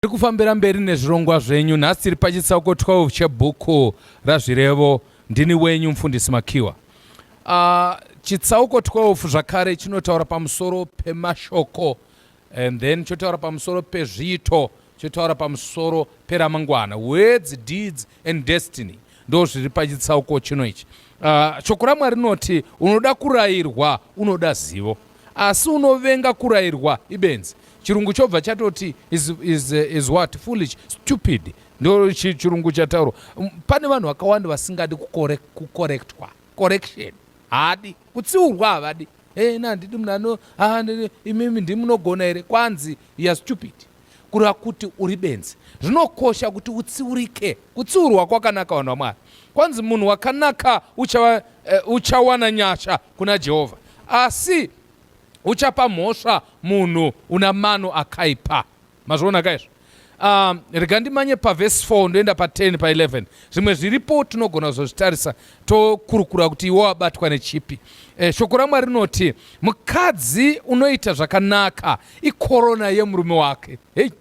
Tiri kufambira mberi nezvirongwa zvenyu. Nhasi tiri pachitsauko 12 chebhuku raZvirevo. Ndini wenyu mufundisi Makiwa. Uh, chitsauko 12 zvakare chinotaura pamusoro pemashoko and then chotaura pamusoro pezviito chotaura pamusoro peramangwana words deeds and destiny ndo zviri pachitsauko chino ichi uh, shoko ramwari rinoti unoda kurayirwa unoda zivo asi unovenga kurayirwa ibenzi chirungu chobva chatoti is, is, is what foolish stupid ndo chirungu chataurwa um, pane vanhu vakawanda vasingadi kukorektwa correction haadi kutsiurwa havadi Hey, na ndidi munhu ano ah, imimi ndi munogona here kwanzi ya stupid kureva kuti uri benzi zvinokosha kuti utsiurike kutsiurwa kwakanaka vanhu vamwari kwanzi munhu wakanaka uchawa, uh, eh, uchawana nyasha kuna jehovha asi uchapa mhosva munhu una mano akaipa mazviona ka izvo um, rega ndimanye pavhesi 4 ndoenda pa10 pa11 zvimwe zviripo tinogona kuzozvitarisa tokurukura kuti iwo abatwa nechipi e, shoko ramwari rinoti mukadzi unoita zvakanaka ikorona yemurume wake hei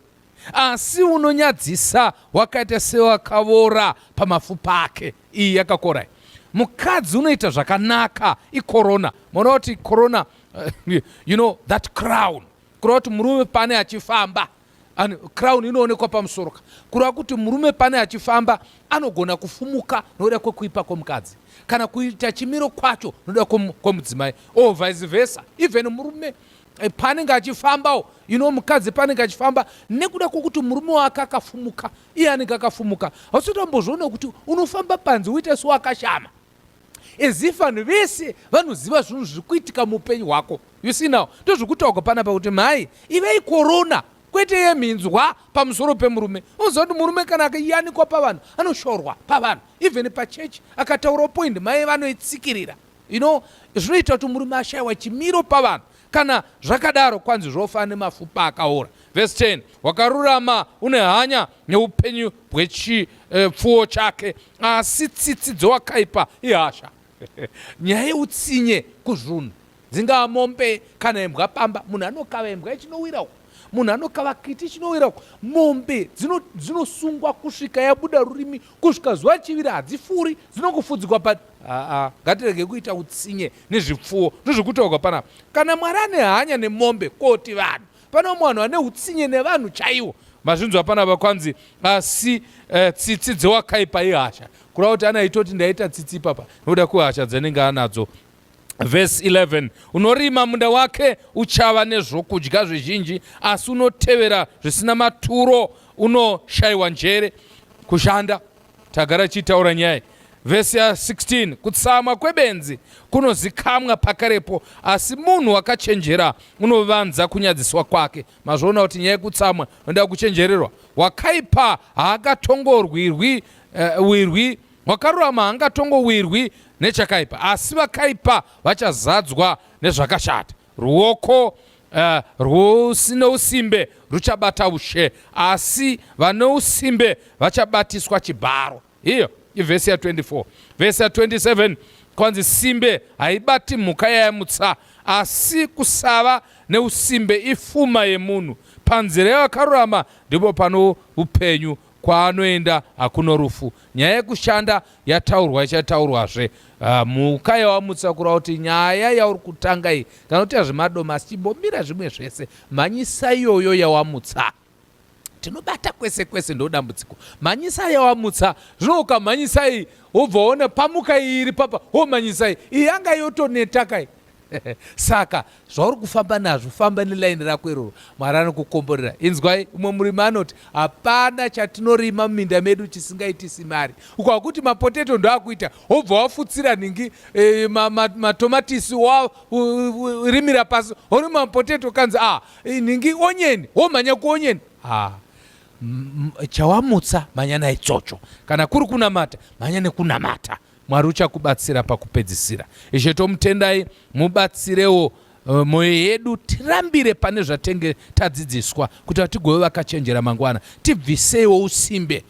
asi unonyadzisa wakaita sewakavora pamafupa ake iyi yakakorai mukadzi unoita zvakanaka ikorona maona kuti korona uh, you know that crown kureva kuti murume pane achifamba and crown inoonekwa pamusoro ka kureva kuti murume pane achifamba anogona kufumuka nokuda kwekuipa kwemukadzi kana kuita chimiro kwacho nokuda kwemudzimai or vice versa even murume eh, paanenge achifambawo you know mukadzi paanenge achifamba nekuda kwekuti murume wake akafumuka iye anenge akafumuka hausitambozoona kuti unofamba panzi uite sewakashama as if vanhu vese vanoziva zvinhu zviri kuitika muupenyu hwako you see now ndozvokutaurwa panapa kuti mhai ivei korona kwete yemhinzwa pamusoro pemurume unoziva kuti murume kana akayanikwa pavanhu anoshorwa pavanhu even pachechi akataura point mai vanoitsikirira you know zvinoita kuti murume ashayiwa chimiro pavanhu kana zvakadaro kwanzi zvofa nemafupa akaora vhesi 10 wakarurama une hanya neupenyu bwechipfuwo eh, chake Asi tsitsi dzowakaipa ihasha. Nyaya yeutsinye kuzvunhu dzingava mombe kana imbwa pamba. Munhu anokava imbwa ichinowira uko, munhu anokava kiti ichinowira uko. Mombe dzinosungwa kusvika yabuda rurimi kusvika zuva chivira, hadzifuri dzinongofudzikwa pa aa ngatirege kuita utsinye nezvipfuwo ndozviri kutaurwa panapa. Kana Mwari ane hanya nemombe koti vanhu Pane vamwe vanhu vane utsinye nevanhu chaiwo. Mazvinzwa panapa kwanzi asi uh, tsitsi dzewakaipa ihasha. Kureva kuti ana aitoti ndaita tsitsi ipapa nokuda kwehasha dzenenge anadzo. Verse 11 unorima munda wake uchava nezvokudya zvizhinji asi unotevera zvisina maturo unoshayiwa njere kushanda Tagara chitaura nyaya vhesi ya 16 kutsamwa kwebenzi kunozikamwa pakarepo asi munhu wakachenjera unovanza kunyadziswa kwake mazvoona kuti nyaya yekutsamwa unoda kuchenjererwa wakaipa haakatongorwirwi uh, wirwi wakarurama haangatongowirwi nechakaipa asi vakaipa vachazadzwa nezvakashata Ruoko uh, rwusino usimbe ruchabata ushe, asi vane usimbe vachabatiswa chibharo. Iyo ivhesi ya24. Vhesi ya27 kwanzi simbe haibati mhuka yayamutsa, asi kusava neusimbe ifuma yemunhu. Panzira yevakarurama ndipo pano upenyu kwaanoenda hakuno rufu nyaya yekushanda yataurwa ichataurwazve ah, mhuka yawamutsa kurava kuti nyaya yauri kutanga iyi kana kuti yazvemadomasi chimbomira zvimwe zvese mhanyisa iyoyo yawamutsa tinobata kwese kwese ndodambudziko mhanyisa yawamutsa zvino ukamhanyisai wobva one pamuka iri papa womhanyisai iyi yanga yotonetakai saka zvauri kufamba nazvo famba nelaini rako iroro mwari anokukomborera inzwai umwe murimi anoti hapana chatinorima muminda medu chisingaitisi mari ukakuti mapoteto ndoakuita wobva wafutsira ningi e, matomatisi ma, ma warimira pasi orima mapoteto kanzi a ah, e, ningi onyeni womhanya kuonyeni ha ah, chawamutsa mhanya naitsotsvo kana kuri kunamata mhanya nekunamata Mwari uchakubatsira pakupedzisira. Ishe tomutendai mubatsirewo eh, moyo yedu tirambire pane zvatenge tadzidziswa kuti tigove vakachenjera mangwana. Tibviseiwo usimbe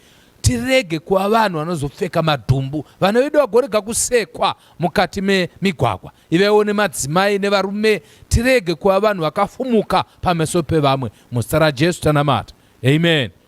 tirege kuva vanhu vanozopfeka madhumbu vana vedu vagorega kusekwa mukati memigwagwa ivaiwo nemadzimai nevarume tirege kuva vanhu vakafumuka pameso pevamwe muzita rajesu tanamata amen